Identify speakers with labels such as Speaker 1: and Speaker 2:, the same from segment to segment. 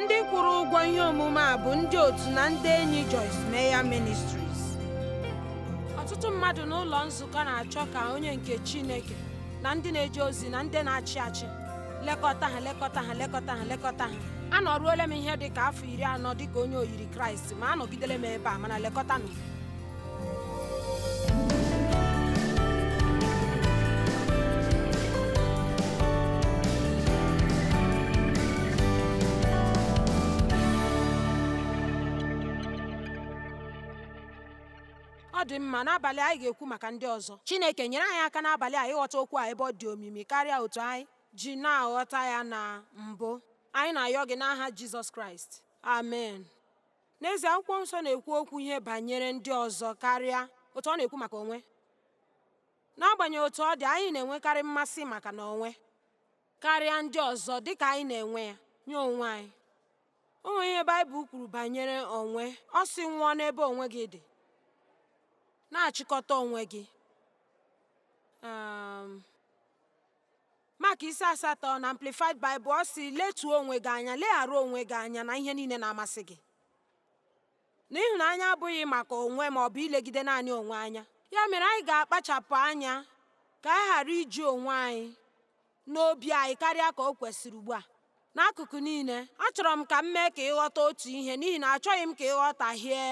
Speaker 1: ndị kwụrụ ụgwọ ihe omume a bụ ndị otu na ndị enyi Joyce Meyer Ministries ọtụtụ mmadụ n'ụlọ nzukọ na-achọ ka onye nke Chineke na ndị na-eje ozi na ndị na-achị achị lekọta ha lekọta ha lekọta ha lekọta ha anọruola m ihe dị ka afọ iri anọ dị ka onye oyiri Kraịst ma anọgidela m ebe a mana lekọtanụ m ọ dị mma n'abalị anyị ga-ekwu maka ndị ọzọ chineke nyere anyị aka n'abalị a ịghọta okwu a ebe ọ dị omimi karịa otu anyị ji na-aghọta ya na mbụ anyị na-ayọ gị n'aha jizọs kraịst amen N'ezie, Akwụkwọ Nsọ na-ekwu okwu ihe banyere ndị ọzọ karịa otu ọ na-ekwu maka onwe. N'agbanyeghị otu ọ dị, anyị na-enwekarị mmasị maka na onwe karịa ndị ọzọ dị ka anyị na-enwe ya nye onwe anyị. O nwere ihe Baịbụl kwuru banyere onwe, ọ sị, Nwụọ n'ebe onwe gị dị, na-achịkọta onwe gị. Um, Mak isi asatọ na Amplified Bible ọ sị letuo onwe gị anya leghara onwe gị anya na ihe niile na-amasị gị na ịhụnanya abụghị maka onwe ma ọ bụ ilegide naanị onwe anya ya mere anyị ga-akpachapụ anya ka anyị ghara iji onwe anyị n'obi anyị karịa ka o kwesịrị ugbu a n'akụkụ niile achọrọ m ka m mee ka ị ghọta otu ihe n'ihi na achọghị m ka ị ghọtahie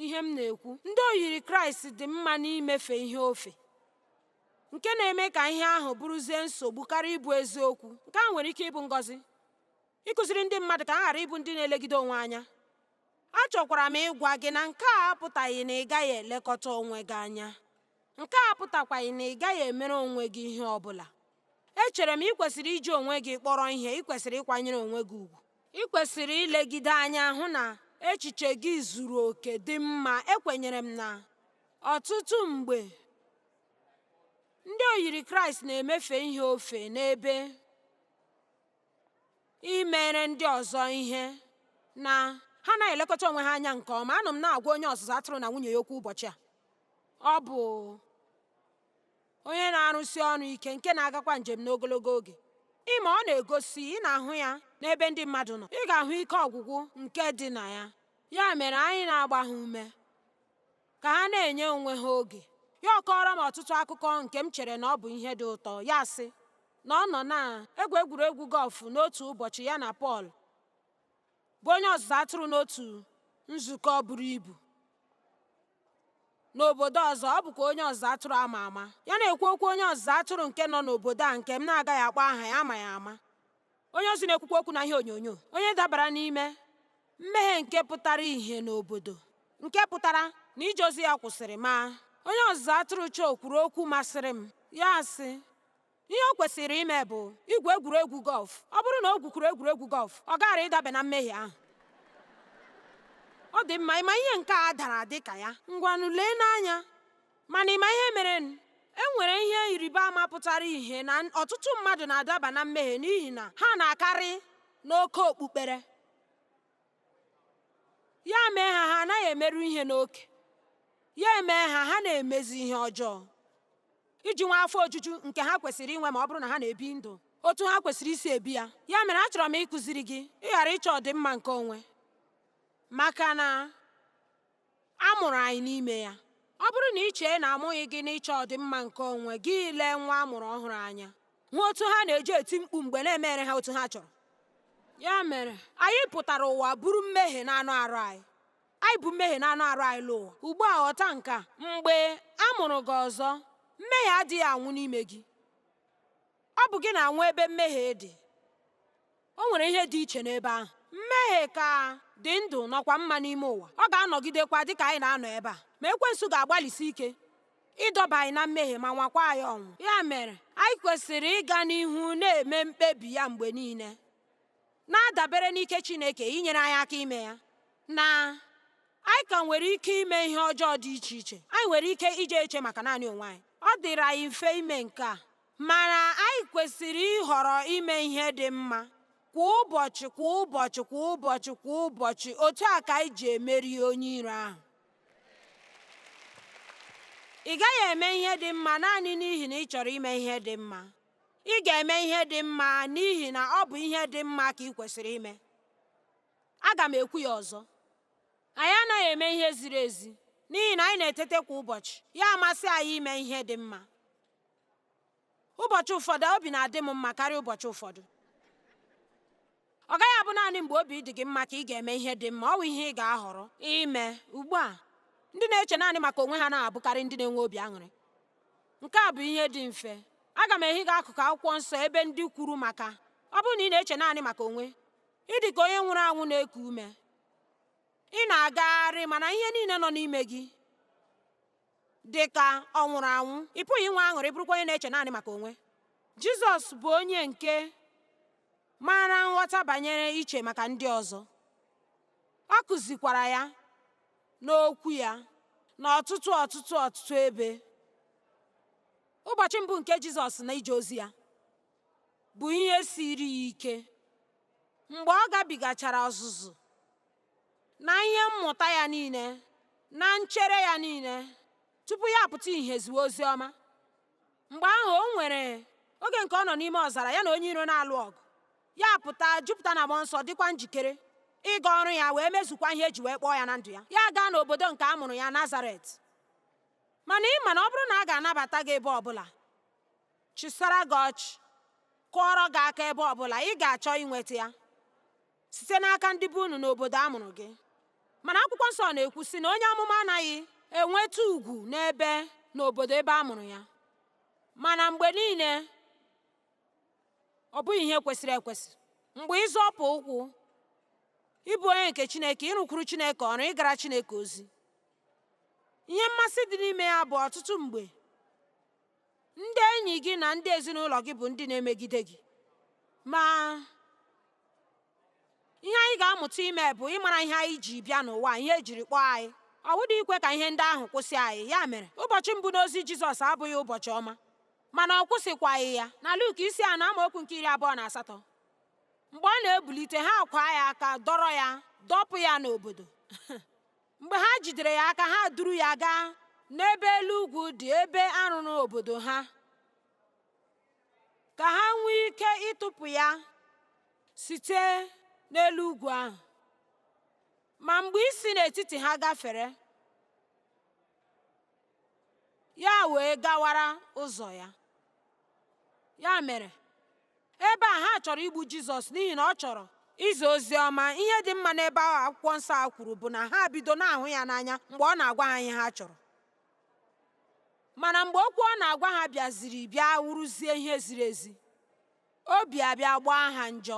Speaker 1: ihe m na-ekwu ndị oyiri kraịst dị mma n'imefe ihe ofe nke na-eme ka ihe ahụ bụrụzie nsogbu karịa ịbụ eziokwu. Nke ahụ nwere ike ịbụ ngọzi, ịkụziri ndị mmadụ ka ha ghara ịbụ ndị na-elegide onwe anya. Achọkwara m ịgwa gị na nke a apụtaghị na ị gaghị elekọta onwe gị anya. Nke a apụtakwaghị na ị gaghị emere onwe gị ihe ọ bụla. Echere m ị kwesịrị iji onwe gị kpọrọ ihe, ị kwesịrị ịkwanyere onwe gị ugwu. Ị kwesịrị ilegide anya hụ na echiche gị zuru oke, dị mma. Ekwenyere m na ọtụtụ mgbe ndị oyiri kraịst na-emefe ihe ofe n'ebe imere ndị ọzọ ihe na ha na-elekọta onwe ha anya nke ọma anọ m na-agwa onye ọzụzụ atụrụ na nwunye ya okwu ụbọchị a ọ bụ onye na-arụsi ọrụ ike nke na-agakwa njem n'ogologo oge ị ma ọ na-egosi ị na-ahụ ya n'ebe ndị mmadụ nọ ị ga-ahụ ike ọgwụgwụ nke dị na ya ya mere anyị na-agba ha ume Ka ha na-enye onwe ha oge, ya akọọrọ m ọtụtụ akụkọ nke m chere na ọ bụ ihe dị ụtọ, ya asị na ọ nọ na-egwu egwuregwu gọlf n'otu ụbọchị ya na Pọl, bụ onye ọzụzụ atụrụ n'otu nzukọ buru ibu n'obodo ọzọ, ọ bụkwa onye ọzụzụ atụrụ a ma ama. Ya na-ekwu okwu onye ọzụzụ atụrụ nke nọ n'obodo a nke m na-agaghị akpọ aha ya a ma ya ama. onye ozi na-ekwukwa okwu na ihe onyonyo onye dabara n'ime mmehie nke pụtara ihe n'obodo nke pụtara na ije ozi ya kwụsịrị ma onye ọzụzụ atụrụ Cho kwuru okwu masịrị m ya sị ihe o kwesịrị ime bụ igwu egwuregwu gọlf ọ bụrụ na o gwukwuru egwuregwu gọlf ọ gaghara ịdaba na mmehie ahụ ọ dị mma ịma ihe nke a dara dị ka ya ngwanụ leenụ anya Mana ị ma ihe merenụ? E nwere ihe ịrịba ama pụtara ihe na ọtụtụ mmadụ na-adaba na mmehie n'ihi na ha na-akarị n'oke okpukpere. Ya mee ha, ha anaghị emeru ihe n'oke. Ya emee ha, ha na-emezi ihe ọjọọ iji nwee afọ ojuju nke ha kwesịrị inwe ma ọ bụrụ na ha na-ebi ndụ otu ha kwesịrị isi ebi ya. Ya mere achọrọ m ịkụziri gị ịghara ịchọ ọdịmma nke onwe maka na A mụrụ anyị n'ime ya. Ọ bụrụ na ị chee na a mụghị gị n'ịchọ ọdịmma nke onwe gị, lee nwa a mụrụ ọhụrụ anya, hụ otu ha na-eji eti mkpu mgbe a na-emere ha otu ha chọrọ. Ya mere, anyị pụtara ụwa buru mmehie n'anụ arụ anyị. Anyị bu mmehie n'anụ arụ anyị lọ ụwa. Ugbu a ghọta nke a, mgbe a mụrụ gị ọzọ, mmehie adịghị anwụ n'ime gị. Ọ bụ gị na-anwụ ebe mmehie dị. O nwere ihe dị iche n'ebe ahụ. Mmehie ka dị ndụ nọkwa mma n'ime ụwa. Ọ ga-anọgidekwa dị ka anyị na-anọ ebe a. Ma ekwensu ga-agbalịsi ike ịdọba anyị na mmehie ma nwakwa anyị ọnwụ. Ya mere, anyị kwesịrị ịga n'ihu na-eme mkpebi ya mgbe niile, na-adabere n'ike Chineke inyere anyị aka ime ya, na anyị ka nwere ike ime ihe ọjọọ dị iche iche. Anyị nwere ike ije eche maka naanị onwe anyị. Ọ dịrị anyị mfe ime nke a. Mana anyị kwesịrị ịhọrọ ime ihe dị mma kwa ụbọchị kwa ụbọchị kwa ụbọchị kwa ụbọchị otu a ka anyị ji emeri onye iro ahụ. Ị gaghị eme ihe dị mma naanị n'ihi na ị chọrọ ime ihe dị mma. Ị ga-eme ihe dị mma n'ihi na ọ bụ ihe dị mma ka ị kwesịrị ime. Aga m ekwu ya ọzọ. Anyị anaghị eme ihe ziri ezi n'ihi na anyị na-etete kwa ụbọchị, ya amasị anyị ime ihe dị mma. ụbọchị ụfọdụ obi na-adị m mma karịa ụbọchị ụfọdụ ọ gaghị abụ naanị mgbe obi dị gị mma ka ị ga-eme ihe dị mma ọ bụ ihe ị ga-ahọrọ ime ugbu a ndị na-eche naanị maka onwe ha na-abụkarị ndị na-enweghị obi aṅụrị nke a bụ ihe dị mfe aga m ehi gị akụkụ akwụkwọ nsọ ebe ndị kwuru maka ọ bụrụ na ị na-eche naanị maka onwe ị dị ka onye nwụrụ anwụ na-eku ume ị na-agagharị mana ihe niile nọ n'ime gị dị ka ọ nwụrụ anwụ ị pụghị inwe aṅụrị bụrụkwa onye na-eche naanị maka onwe Jizọs bụ onye nke maara nghọta banyere iche maka ndị ọzọ ọ kụzikwara ya n'okwu ya n'ọtụtụ ọtụtụ ọtụtụ ebe ụbọchị mbụ nke Jizọs na ije ozi ya bụ ihe siri ya ike mgbe ọ gabigachara ọzụzụ na ihe mmụta ya niile na nchere ya niile tupu ya apụta ihe ziwe ozi ọma mgbe ahụ o nwere oge nke ọ nọ n'ime ọzara ya na onye iro na-alụ ọgụ ya pụta jupụta na mmụọ nsọ dịkwa njikere ịga ọrụ ya wee mezukwa ihe eji wee kpọọ ya na ndụ ya ya gaa n'obodo nke a mụrụ ya nazaret mana ị ma na ọ bụrụ na a ga-anabata gị ebe ọbụla chịsara gị ọchị kụọrọ gị aka ebe ọbụla ị ga-achọ inweta ya site n'aka ndị be unu n'obodo a mụrụ gị mana akwụkwọ nsọ na-ekwu sị na onye amụma anaghị enweta ugwu n'ebe n'obodo ebe a mụrụ ya mana mgbe niile ọ bụghị ihe kwesịrị ekwesị mgbe ị zọpụ ụkwụ ịbụ onye nke chineke ịrụkwuru chineke ọrụ ịgara chineke ozi ihe mmasị dị n'ime ya bụ ọtụtụ mgbe ndị enyi gị na ndị ezinụlọ gị bụ ndị na-emegide gị ma ihe anyị ga-amụta ime bụ ịmara ihe anyị ji bịa n'ụwa ihe ejiri kpọọ anyị ọ bụghị ikwe ka ihe ndị ahụ kwụsị anyị ya mere ụbọchị mbụ n'ozi Jizọs abụghị ụbọchị ọma mana ọ kwụsịkwaghị ya na Luk isi anọ amaokwu nke iri abụọ na asatọ mgbe ọ na-ebulite ha akwaa ya aka dọrọ ya dọpụ ya n'obodo mgbe ha jidere ya aka ha duru ya gaa n'ebe elu ugwu dị ebe a rụrụ obodo ha ka ha nwee ike ịtụpụ ya site n'elu ugwu ahụ ma mgbe isi n'etiti ha gafere ya wee gawara ụzọ ya ya mere ebe a ha chọrọ igbu jizọs n'ihi na ọ chọrọ izi ozi ọma ihe dị mma n'ebe ahụ akwụkwọ nsọ ahụ kwuru bụ na ha bido na-ahụ ya n'anya mgbe ọ na-agwa ha ihe ha chọrọ mana mgbe okwu ọ na-agwa ha bịaziri bịa wụrụzie ihe ziri ezi obi abịa gbaa ha njọ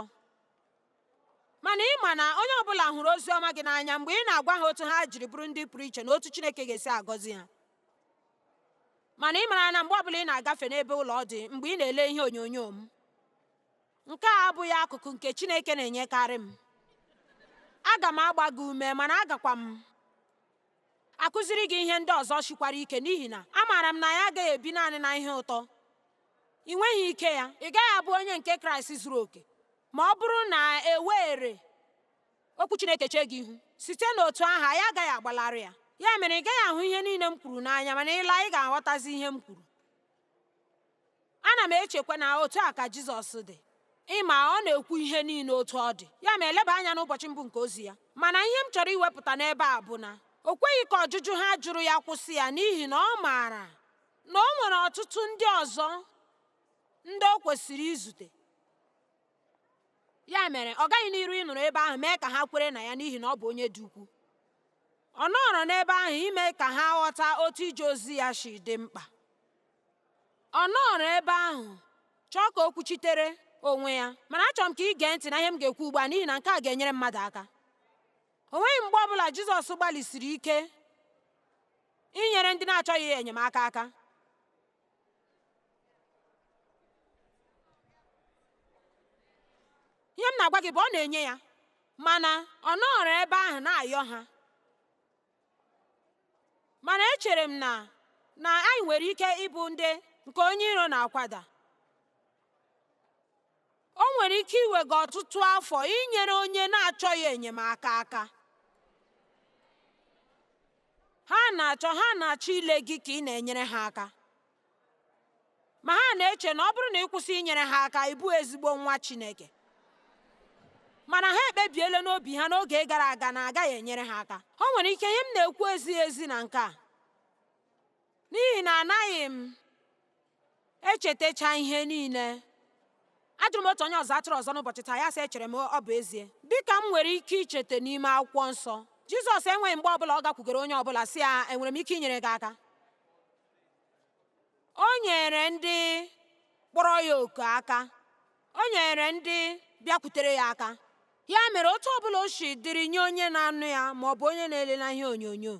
Speaker 1: mana ị ma na onye ọbụla hụrụ ozi ọma gị n'anya mgbe ị na-agwa ha otu ha jiri bụrụ ndị pụrụ iche na otu Chineke ga-esi agọzi ha mana ị mara na mgbe ọbụla ị na-agafe n'ebe ụlọ ọ dị mgbe ị na-ele ihe onyonyo m nke a abụghị akụkụ nke Chineke na-enyekarị m aga m agba gị ume mana agakwa m akụziri gị ihe ndị ọzọ sikwara ike n'ihi na amaara m na anyị agaghị ebi naanị na ihe ụtọ ị nweghị ike ya ị gaghị abụ onye nke kraịst zuru oke ma ọ bụrụ na e were okwu chineke chee gị ihu site n'otu ahụ anyị agaghị agbalarị ya ya mere ị gaghị ahụ ihe niile m kwuru n'anya mana ị laa ị ga-aghọtazi ihe m kwuru ana m echekwa na otu a ka Jizọs dị ị ma ọ na-ekwu ihe niile otu ọ dị ya ma eleba anya n'ụbọchị mbụ nke ozi ya mana ihe m chọrọ iwepụta n'ebe a bụ na o kweghị ka ọjụjụ ha jụrụ ya kwụsị ya n'ihi na ọ maara na o nwere ọtụtụ ndị ọzọ ndị o kwesịrị izute ya mere ọ gaghị n'iru ịnọrọ ebe ahụ mee ka ha kwere na ya n'ihi na ọ bụ onye dị ukwu ọ nọrọ n'ebe ahụ ime ka ha ghọta otu ije ozi ya si dị mkpa ọ nọrọ ebe ahụ chọọ ka o kwuchitere onwe ya mana achọrọ m ka ị gee ntị na ihe m ga-ekwu ugbu a n'ihi na nke a ga-enyere mmadụ aka o nweghị mgbe ọ bụla Jizọs gbalịsiri ike inyere ndị na-achọghị enyemaka aka ihe m na-agwa gị bụ ọ na-enye ya mana ọ nọrọ ebe ahụ na-ayọ ha mana echere m na na anyị nwere ike ịbụ ndị nke onye iro na-akwada O nwere ike iwe gị ọtụtụ afọ inyere onye na-achọghị enyemaka aka. Ha na-achọ ha na-achọ ile gị ka ị na-enyere ha aka. Ma ha na-eche na ọ bụrụ na ị kwụsị inyere ha aka, ị bụghị ezigbo nwa Chineke. Mana ha ekpebiela n'obi ha n'oge gara aga na agaghị enyere ha aka. O nwere ike ihe m na-ekwu ezighị ezi na nke a. N'ihi na anaghị m echetacha ihe niile ajụrụ m otu onye ọzụ atụrụ ọzọ n'ụbọchị taa ya sị echere m ọ bụ ezie dịka m nwere ike icheta n'ime akwụkwọ nsọ jizọs enweghị mgbe ọbụla ọ gakwugoro onye ọbụla sị ya enwere m ike inyere gị aka o nyere ndị kpọrọ ya oku aka o nyere ndị bịakwutere ya aka ya mere otu ọbụla o si dịrị nye onye na-anụ ya ma ọ bụ onye na-ele na ihe onyonyo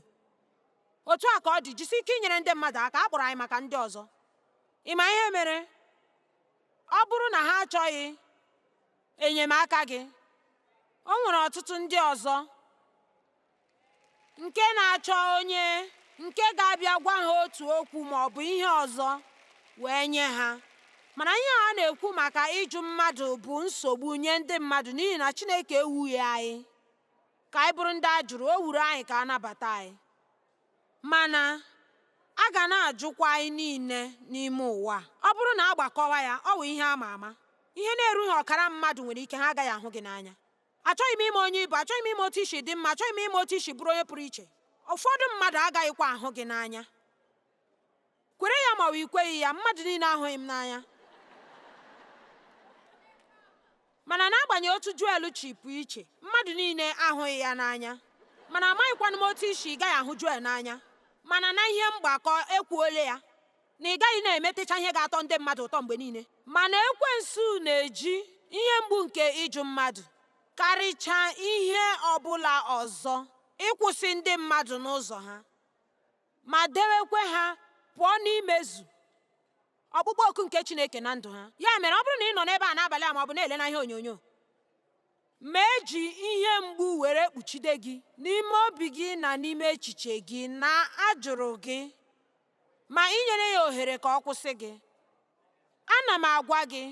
Speaker 1: Otu a ka ọ dị, jisi ike inyere ndị mmadụ aka. A kpọrọ anyị maka ndị ọzọ. Ị ma ihe mere? Ọ bụrụ na ha achọghị enyemaka gị, o nwere ọtụtụ ndị ọzọ nke na-achọ onye nke ga-abịa gwa ha otu okwu ma ọ bụ ihe ọzọ wee nye ha. Mana ihe a na-ekwu maka ịjụ mmadụ bụ nsogbu nye ndị mmadụ n'ihi na Chineke ewughị anyị. ka anyị bụrụ ndị a jụrụ o wuru anyị ka a nabata anyị mana a ga na-ajụkwa anyị niile n'ime ụwa ọ bụrụ na a gbakọwa ya ọ wụ ihe a ma ama ihe na-erughị ọkara mmadụ nwere ike ha agaghị ahụ gị n'anya achọghị m ịma onye ị bụ achọghị m ịma otu i si dị mma achọghị m ịma otu i si bụrụ onye pụrụ iche ụfọdụ mmadụ agaghịkwa ahụ gị n'anya kwere ya ma ọ bụ i kweghị ya mmadụ niile ahụghị m n'anya mana n'agbanyeghị otu Joel si pụọ iche mmadụ niile ahụghị ya n'anya mana amaghịkwanụ m otu i si ị gaghị ahụ Joel n'anya mana na ihe mgbakọ ekwuole ya na ị gaghị na-emetecha ihe ga-atọ ndị mmadụ ụtọ mgbe niile mana ekwensu na-eji ihe mgbu nke ịjụ mmadụ karịchaa ihe ọbụla ọzọ ịkwụsị ndị mmadụ n'ụzọ ha ma dewekwe ha pụọ n'imezu ọkpụkpọ oku nke Chineke na ndụ ha ya mere ọ bụrụ na ị nọ n'ebe a n'abalị a ma ọ bụ na-ele na ihe onyonyo ma e ji ihe mgbu were kpuchide gị n'ime obi gị na n'ime echiche gị na a jụrụ gị ma i nyere ya ohere ka ọ kwụsị gị ana m agwa gị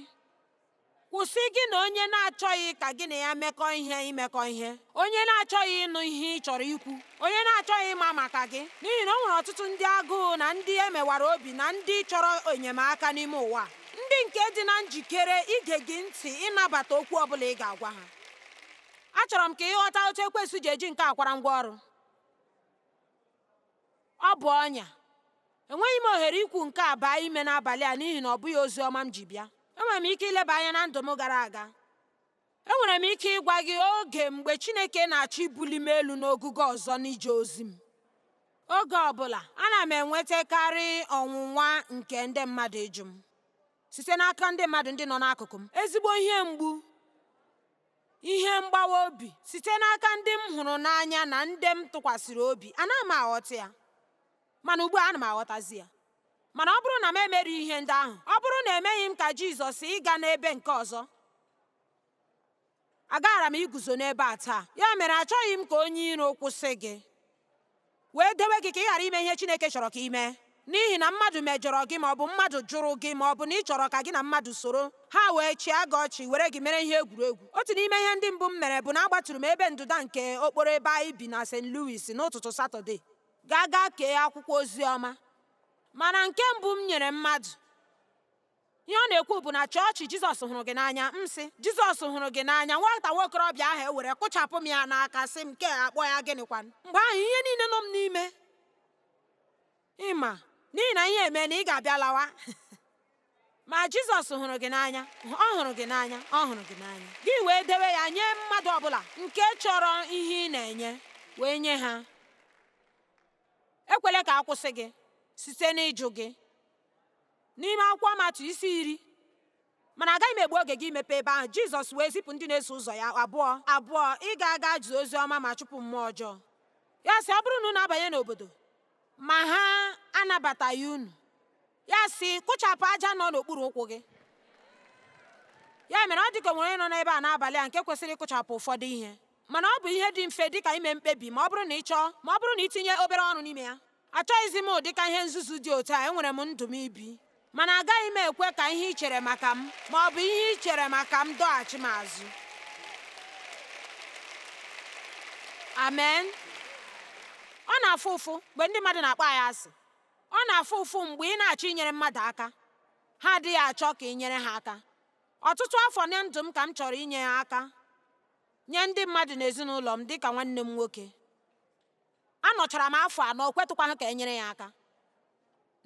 Speaker 1: Kwụsị gị na onye na-achọghị ka gị na ya mekọ ihe imekọ ihe, onye na-achọghị ịnụ ihe ị chọrọ ikwu, onye na-achọghị ịma maka gị, n'ihi na o nwere ọtụtụ ndị agụụ na ndị e mewara obi na ndị chọrọ enyemaka n'ime ụwa, ndị nke dị na njikere ige gị ntị ịnabata okwu ọ bụla ị ga-agwa ha. Achọrọ m ka ị ghọta otu ekwensu ji eji nke a kwara ngwa ọrụ. Ọ bụ ọnya. Enweghị m ohere ikwu nke a baa ime n'abalị a n'ihi na ọ bụghị ozi ọma m ji bịa. Enwere m ike ileba anya na ndụ m gara aga. Enwere m ike ịgwa gị oge mgbe Chineke na-achọ ibuli m elu n'ogugo ọzọ n'ije ozi m. Oge ọ bụla, ana m enwetakarị ọnwụnwa nke ndị mmadụ ịjụ m site n'aka ndị mmadụ ndị nọ n'akụkụ m, ezigbo ihe mgbu. ihe mgbawa obi site n'aka ndị m hụrụ n'anya na ndị m tụkwasịrị obi anaghị m aghọta ya mana ugbu a ana m aghọtazi ya mana ọ bụrụ na m emeri ihe ndị ahụ ọ bụrụ na emeghị m ka Jizọs ịga n'ebe nke ọzọ agaghara m iguzo n'ebe a taa ya mere achọghị m ka onye iro kwụsị gị wee dewe gị ka ị ghara ime ihe Chineke chọrọ ka i mee n'ihi na mmadụ mejọrọ gị ma ọ bụ mmadụ jụrụ gị ma ọ bụ na ị chọrọ ka gị na mmadụ soro, ha wee chịa gị ọchị were gị mere ihe egwuregwu. Otu n'ime ihe ndị mbụ m mere bụ na agbaturu m ebe ndụda nke okporo ebe anyị bi na St. Louis n'ụtụtụ Satọde gaa gaa kee akwụkwọ ozi ọma. Mana nke mbụ m nyere mmadụ. ihe ọ na-ekwu bụ na chọọchị Jizọs hụrụ gị n'anya m sị Jizọs hụrụ gị n'anya nwata nwa okorobịa ahụ ewere kụchapụ m ya n'aka sị m nke akpọ ya gịnịkwan mgbe ahụ ihe niile nọ m n'ime ịma n'ihi na ihe eme na ị ga-abịa lawa ma Jizọs hụrụ gị n'anya ọ hụrụ gị n'anya ọ hụrụ gị n'anya gị wee dewe ya nye mmadụ ọbụla nke chọrọ ihe ị na-enye wee nye ha ekwele ka a kwụsị gị site n'ịjụ gị N'ime akwụkwọ Matiu isi iri mana agaghị m egbu oge gị imepe ebe ahụ Jizọs wee zipụ ndị na-eso ụzọ ya abụọ abụọ ịga aga zie ozi ọma ma chụpụ mmụọ ọjọọ ya sị ọ bụrụ na unu abanye n'obodo ma ha anabataghị unu ya sị kụchapụ aja nọ n'okpuru ụkwụ gị ya mere ọ dịka e nwere onye nọ n'ebe a n'abalị a nke kwesịrị ịkụchapụ ụfọdụ ihe mana ọ bụ ihe dị mfe dịka ime mkpebi ma ọ bụrụ na ị chọọ ma ọ bụrụ na i tinye obere ọrụ n'ime ya Achọghịzi m ụdịka ihe nzuzu dị otu a, enwere m ndụ m ibi. Mana agaghị m ekwe ka ihe i chere maka m ma ọ bụ ihe i chere maka m dọghachi m azụ. Amen. Ọ na-afụ ụfụ mgbe ndị mmadụ na-akpọ anyị asị. Ọ na-afụ ụfụ mgbe ị na-achọ inyere mmadụ aka, ha adịghị achọ ka i nyere ha aka. Ọtụtụ afọ na ndụ m ka m chọrọ inye ha aka nye ndị mmadụ n'ezinụlọ m dịka nwanne m nwoke. Anọchara m afọ anọ, o kwetụkwaghị ka e nyere ya aka.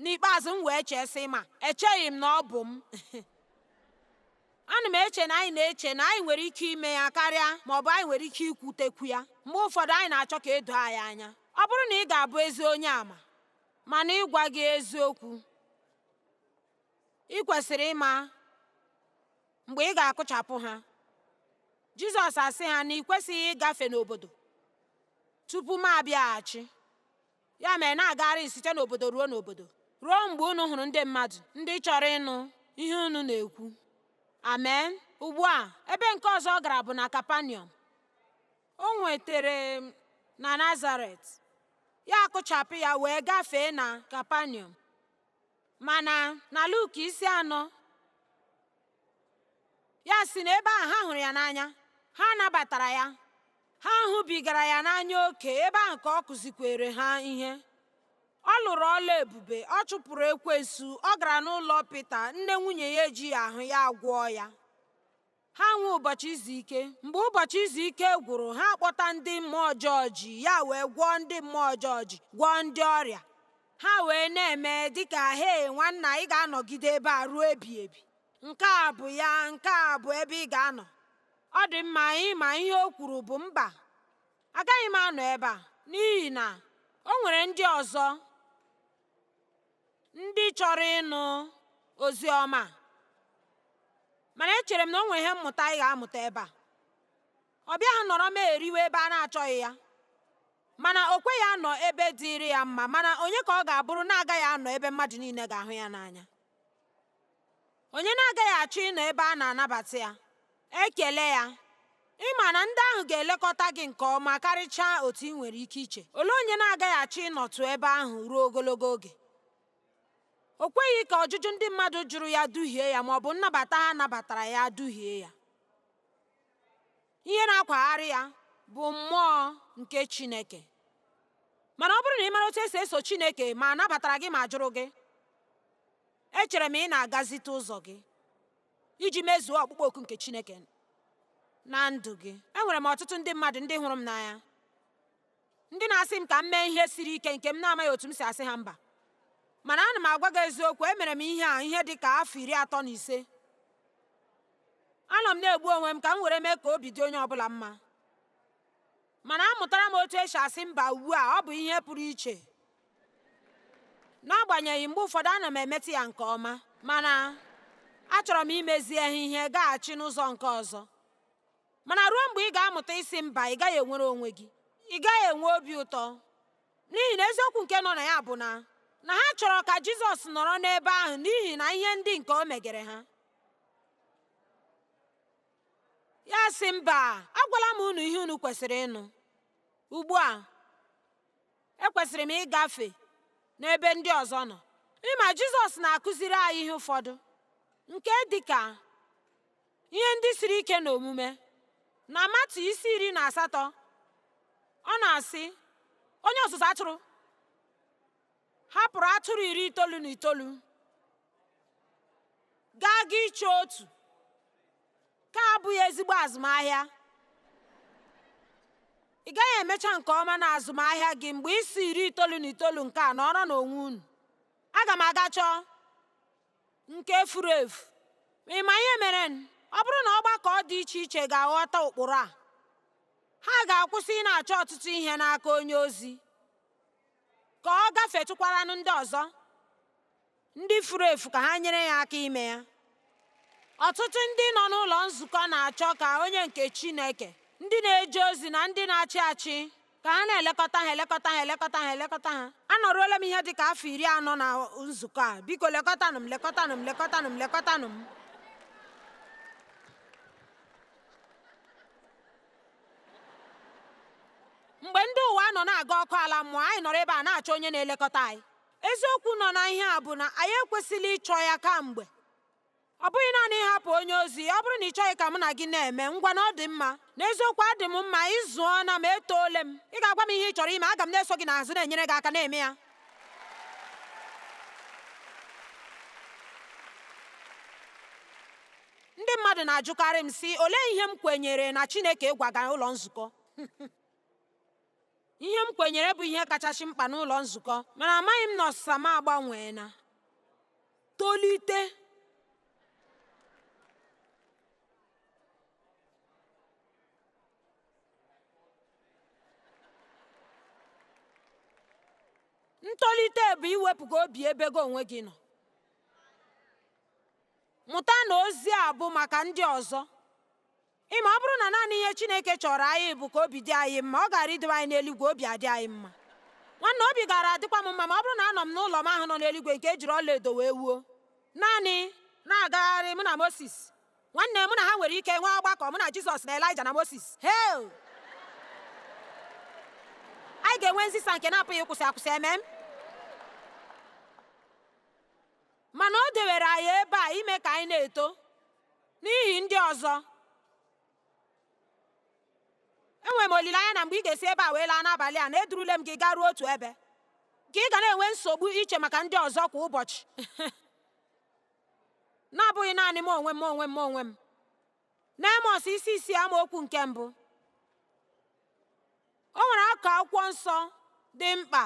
Speaker 1: N'ikpeazụ, m wee chee, sị, Ma, echeghị m na ọ bụ m. Ana m eche na anyị na-eche na anyị nwere ike ime ya karịa ma ọ bụ anyị nwere ike ikwutekwu ya. Mgbe ụfọdụ anyị na-achọ ka e doo anyị anya. Ọ bụrụ na ị ga-abụ ezi onye ama, mana ịgwa gị eziokwu, i kwesịrị ịma mgbe ị ga-akụchapụ ha jizọs asị ha na i kwesịghị ịgafe n'obodo tupu m abịaghachi ya mere na-agagharị site n'obodo ruo n'obodo ruo mgbe unu hụrụ ndị mmadụ ndị chọrọ ịnụ ihe unu na-ekwu amen ugbu a ebe nke ọzọ ọ gara bụ na kapaniọm o nwetere na nazaret ya akụchapụ ya wee gafee na kapaniọm mana na Luk isi anọ ya sị na ebe ahụ ha hụrụ ya n'anya ha nabatara ya ha hụbigara ya n'anya oke ebe ahụ ka ọ kụzikwere ha ihe ọ lụrụ ọlụ ebube ọ chụpụrụ ekwensu ọ gara n'ụlọ Pita nne nwunye ya ejighị ahụ ya agwọọ ya ha enwee ụbọchị izu ike mgbe ụbọchị izu ike gwụrụ ha akpọta ndị mmụọ ọjọọ ji ya wee gwọọ ndị mmụọ ọjọọ ji gwọọ ndị ọrịa ha wee na-eme dịka he nwanna ị ga-anọgide ebe a ruo ebi ebi nke a bụ ya nke a bụ ebe ị ga-anọ ọ dị mma anyị ma ihe o kwuru bụ mba agaghị m anọ ebe a n'ihi na o nwere ndị ọzọ ndị chọrọ ịnụ ozi ọma mana echere m na o nwere ihe mmụta ị ga-amụta ebe a ọ bịaghị nọrọ m eriwe ebe a na-achọghị ya mana o kweghị anọ ebe dịịrị ya mma mana onye ka ọ ga-abụrụ na-agaghị anọ ebe mmadụ niile ga-ahụ ya n'anya onye na-agaghị achọ ịnọ ebe a na-anabata ya ekele ya ị ma na ndị ahụ ga-elekọta gị nke ọma karịchaa otu ị nwere ike iche olee onye na-agaghị achọ ịnọtụ ebe ahụ ruo ogologo oge o kweghị ka ọjụjụ ndị mmadụ jụrụ ya duhie ya ma ọ bụ nnabata ha nabatara ya duhie ya ihe na-akwagharị ya bụ mmụọ nke Chineke mana ọ bụrụ na ị mara otu esi eso Chineke ma a nabatara gị ma a jụrụ gị Echere m ị na-agazite ụzọ gị iji mezuo ọkpụkpọ oku nke Chineke na ndụ gị. Enwere m ọtụtụ ndị mmadụ ndị hụrụ m n'anya, ndị na-asị m ka m mee ihe siri ike nke m na-amaghị otu m si asị ha mba. Mana ana m agwa gị eziokwu, emere m ihe a ihe dị ka afọ iri atọ na ise. Anọ m na-egbu onwe m ka m were mee ka obi dị onye ọ bụla mma. Mana amụtara m otu esi asị mba ugbu a, ọ bụ ihe pụrụ iche. N'agbanyeghị mgbe ụfọdụ ana m emeta ya nke ọma, mana achọrọ m imezi ha ihe gaghachi n'ụzọ nke ọzọ. Mana ruo mgbe ị ga-amụta ịsị mba, ị gaghị enwere onwe gị, ị gaghị enwe obi ụtọ, n'ihi na eziokwu nke nọ na ya bụ na na ha chọrọ ka Jizọs nọrọ n'ebe ahụ n'ihi na ihe ndị nke o megere ha. ya sị mba agwala m unu ihe unu kwesịrị ịnụ ugbu a ekwesịrị m ịgafe n'ebe ndị ọzọ nọ ị ma jizọs na-akụziri anyị ihe ụfọdụ nke dị ka ihe ndị siri ike na omume na matiu isi iri na asatọ ọ na-asị onye ọzụzụ atụrụ hapụrụ atụrụ iri itoolu na itoolu gaa ga ịchọ otu nke a abụghị ezigbo azụmahịa ị gaghị emecha nke ọma na azụmahịa gị mgbe ị sị iri itoolu na itoolu nke a nọrọ n'onwe unu aga m aga chọọ nke furu efu ma ị ma ihe mere ọ bụrụ na ọgbakọ dị iche iche ga-aghọta ụkpụrụ a ha ga-akwụsị ịna-achọ ọtụtụ ihe n'aka onye ozi ka ọ gafetụkwaranụ ndị ọzọ ndị furu efu ka ha nyere ya aka ime ya ọtụtụ ndị nọ n'ụlọ nzukọ na-achọ ka onye nke Chineke ndị na-eje ozi na ndị na-achị achị ka ha na-elekọta ha elekọta ha elekọta ha elekọta ha anọruola m ihe dị ka afọ iri anọ na nzukọ a biko lekọtanụ m lekọtanụ m lekọtanụ m lekọtanụ m mgbe ndị ụwa nọ na-aga ọkụ ala mmụọ anyị nọrọ ebe a na-achọ onye na-elekọta anyị eziokwu nọ na ihe a bụ na anyị ekwesịla ịchọ ya kamgbe ọ bụghị naanị ịhapụ onye ozi ọ bụrụ na ị chọghị ka mụ na gị na-eme ngwanụ ọ dị mma n'eziokwu adị m mma ị zụọla m etoole m ị ga-agwa m ihe ị chọrọ ime aga m na-eso gị n'azụ na-enyere gị aka na-eme ya Ndị mmadụ na-ajụkarị m, sị, Olee ihe m kwenyere na Chineke gwaga ụlọ nzukọ? ihe m kwenyere bụ ihe kachasị mkpa n'ụlọ nzukọ, mana amaghị m na ọsịsa m agbanweela tolite. ntolite bụ iwepụga obi ebe gị onwe gị nọ Mụta na ozi a bụ maka ndị ọzọ. Ị ma ọ bụrụ na naanị ihe Chineke chọọrọ anyị bụ ka obi dị anyị mma, ọ gaara idowe anyị n'eluigwe obi adị anyị mma. Nwanne, obi gaara adịkwa m mma ma ọ bụrụ na anọ m n'ụlọ m ahụ nọ n'eluigwe nke e jiri ọlaedo wee wuo, naanị na-agagharị mụ na Mosis. Nwanne, mụ na ha nwere ike nwee ọgbakọ, mụ na Jizọs na Elaịja na Mosis. Hei! Anyị ga-enwe nzisa nke na-apụghị ịkwụsị akwụsị, amen? Mana o dewere anyị ebe a ime ka anyị na-eto n'ihi ndị ọzọ. Enwere m olileanya na mgbe ị ga-esi ebe a wee laa n'abalị a na edurule m gị garuo otu ebe ka ị ga na-enwe nsogbu iche maka ndị ọzọ kwa ụbọchị na-abụghị naanị m onwe m onwe m onwe m N'Amos isi isii amaokwu nke mbụ o nwere akụkụ akwụkwọ nsọ dị mkpa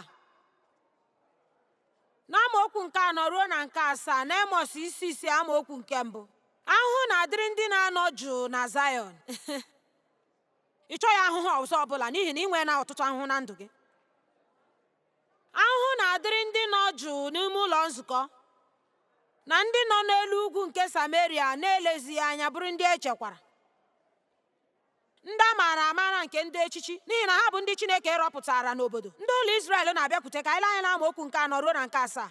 Speaker 1: n'amaokwu nke anọ ruo na nke asaa n'Amos isi isii amaokwu nke mbụ ahụhụ na-adịrị ndị na-anọ jụụ na Zayọn ị chọghị ahụhụ ọzọ ọbụla n'ihi na ị nweela ọtụtụ ahụhụ na ndụ gị Ahụhụ na-adịrị ndị nọ jụụ n'ime ụlọ nzukọ na ndị nọ n'elu ugwu nke Sameria na-elezighị anya bụrụ ndị e chekwara ndị a maara amara nke ndị echichi n'ihi na ha bụ ndị Chineke rọpụtara n'obodo ndị ụlọ Izrel na-abịakwute ka anyị lee anya n'amaokwu nke anọ ruo na nke asaa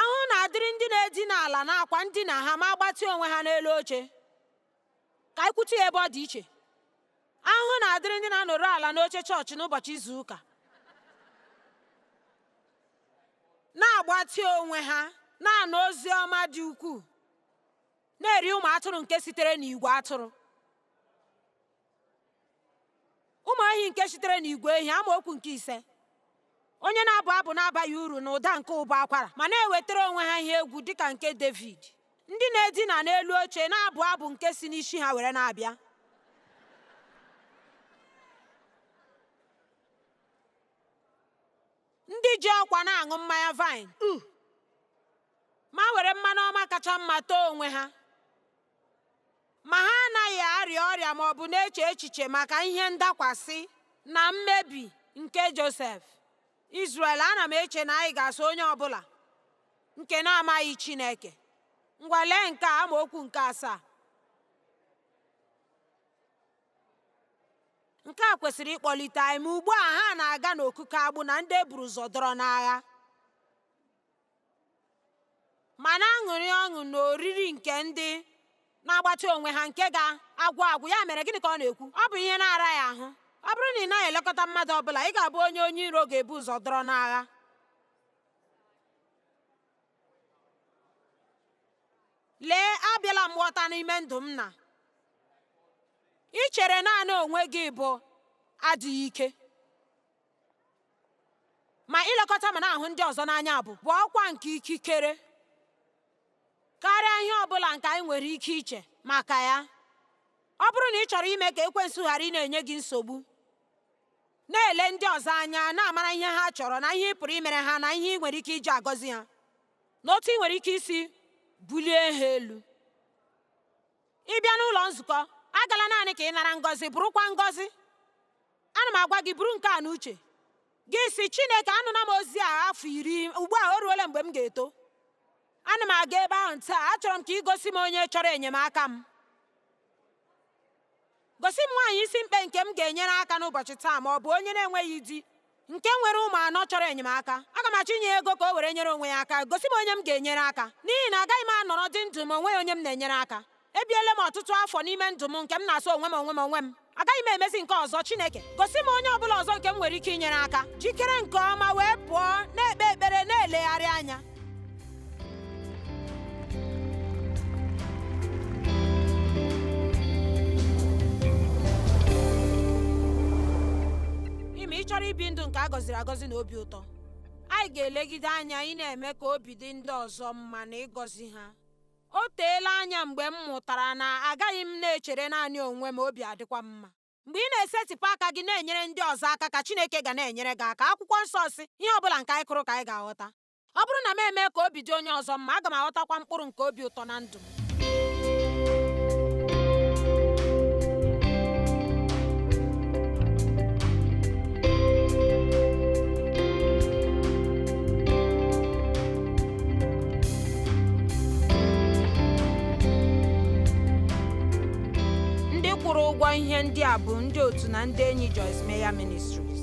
Speaker 1: ahụhụ na-adịrị ndị na-edina ala n'akwa ndina ha ma gbatịa onwe ha n'elu oche Ka anyị kwutu ya ebe ọ dị iche. Ahụhụ na-adịrị ndị na-anọrọ ala n'oche chọọchị n'ụbọchị izu ụka, na-agbatị onwe ha na-anụ ozi ọma dị ukwuu, na-eri ụmụ atụrụ nke sitere n'igwe atụrụ. ụmụ ehi nke sitere n'igwe ehi amaokwu nke ise onye na-abụ abụ na-abaghị uru na ụda nke ụbọ akwara ma na-ewetara onwe ha ihe egwu dịka nke David ndị na-edina n'elu oche na-abụ abụ nke si n'isi ha were na-abịa ndị ji ọkwa na-aṅụ mmanya vine ma were mmanụ ọma kacha mma tee onwe ha ma ha anaghị arịa ọrịa ma ọ bụ na-eche echiche maka ihe ndakwasị na mmebi nke Josef. Izrel, ana m eche na anyị ga-asị onye ọ bụla nke na-amaghị Chineke. Ngwa lee nke a amaokwu nke asaa. Nke a kwesịrị ịkpọlite anyị ma ugbu a ha na-aga n'okike agbụ na ndị e buru ụzọ dọrọ n'agha. ma na-aṅụrị ọṅụ n'oriri nke ndị na-agbatị onwe ha nke ga-agwụ agwụ ya mere gịnị ka ọ na-ekwu ọ bụ ihe na-araghị ahụ ọ bụrụ na ị naghị elekọta mmadụ ọ bụla ị ga-abụ onye onye iro ga-ebu ụzọ dọrọ n'agha lee abịala m ghọta n'ime ndụ m na ichere naanị onwe gị bụ adịghị ike ma ilekọta ma na-ahụ ndị ọzọ n'anya bụ bụ ọkwa nke ikikere karịa ihe ọ bụla nke anyị nwere ike iche maka ya ọ bụrụ na ị chọrọ ime ka ekwensu ghara ị na-enye gị nsogbu na-ele ndị ọzọ anya na-amara ihe ha chọrọ na ihe ị pụrụ imere ha na ihe ị nwere ike iji agọzi ha na otu ị nwere ike isi bulie ha elu Ị bịa n'ụlọ nzukọ, agala naanị ka ị nara ngọzi, bụrụkwa ngọzi. Ana m agwa gị, buru nke a n'uche gị, sị Chineke, anụla m ozi a afọ iri, ugbu a o ruola mgbe m ga-eto. Ana m aga ebe ahụ taa, achọrọ m ka ị gosi m onye chọrọ enyemaka m. Gosi m nwaanyị isi mkpe nke m ga-enyere aka n'ụbọchị taa ma ọ bụ onye na-enweghị di nke nwere ụmụ anọ chọrọ enyemaka. Aga m achọ inye ego ka o were nyere onwe ya aka. Gosi m onye m ga-enyere aka. N'ihi na agaghị m anọrọ dị ndụ ma o nweghị onye m na-enyere aka. Ebiele m ọtụtụ afọ n'ime ndụ m nke m na-asọ onwe m onwe m onwe m. Agaghị m emezi nke a ọzọ. Chineke, gosi m onye ọ bụla ọzọ nke m nwere ike inyere aka. Jikere nke ọma wee pụọ, na-ekpe ekpere, na-elegharị anya. ị ma ị chọrọ ibi ndụ nke a gọziri agọzi na obi ụtọ anyị ga-elegide anya ị na-eme ka obi dị ndị ọzọ mma na ịgọzi ha o teela anya mgbe m mụtara na agaghị m na-echere naanị onwe m obi adịkwa m mma Mgbe ị na-esetịpụ aka gị na-enyere ndị ọzọ aka ka Chineke ga na-enyere gị aka akwụkwọ nsọ sị ihe ọ bụla nke anyị kụrụ ka anyị ga-aghọta ọ bụrụ na m mee ka obi dị onye ọzọ mma aga m aghọtakwa mkpụrụ nke obi ụtọ na ndụ m ndị kwụrụ ụgwọ ihe ndị a bụ ndị otu na ndị enyi Joyce Meyer Ministries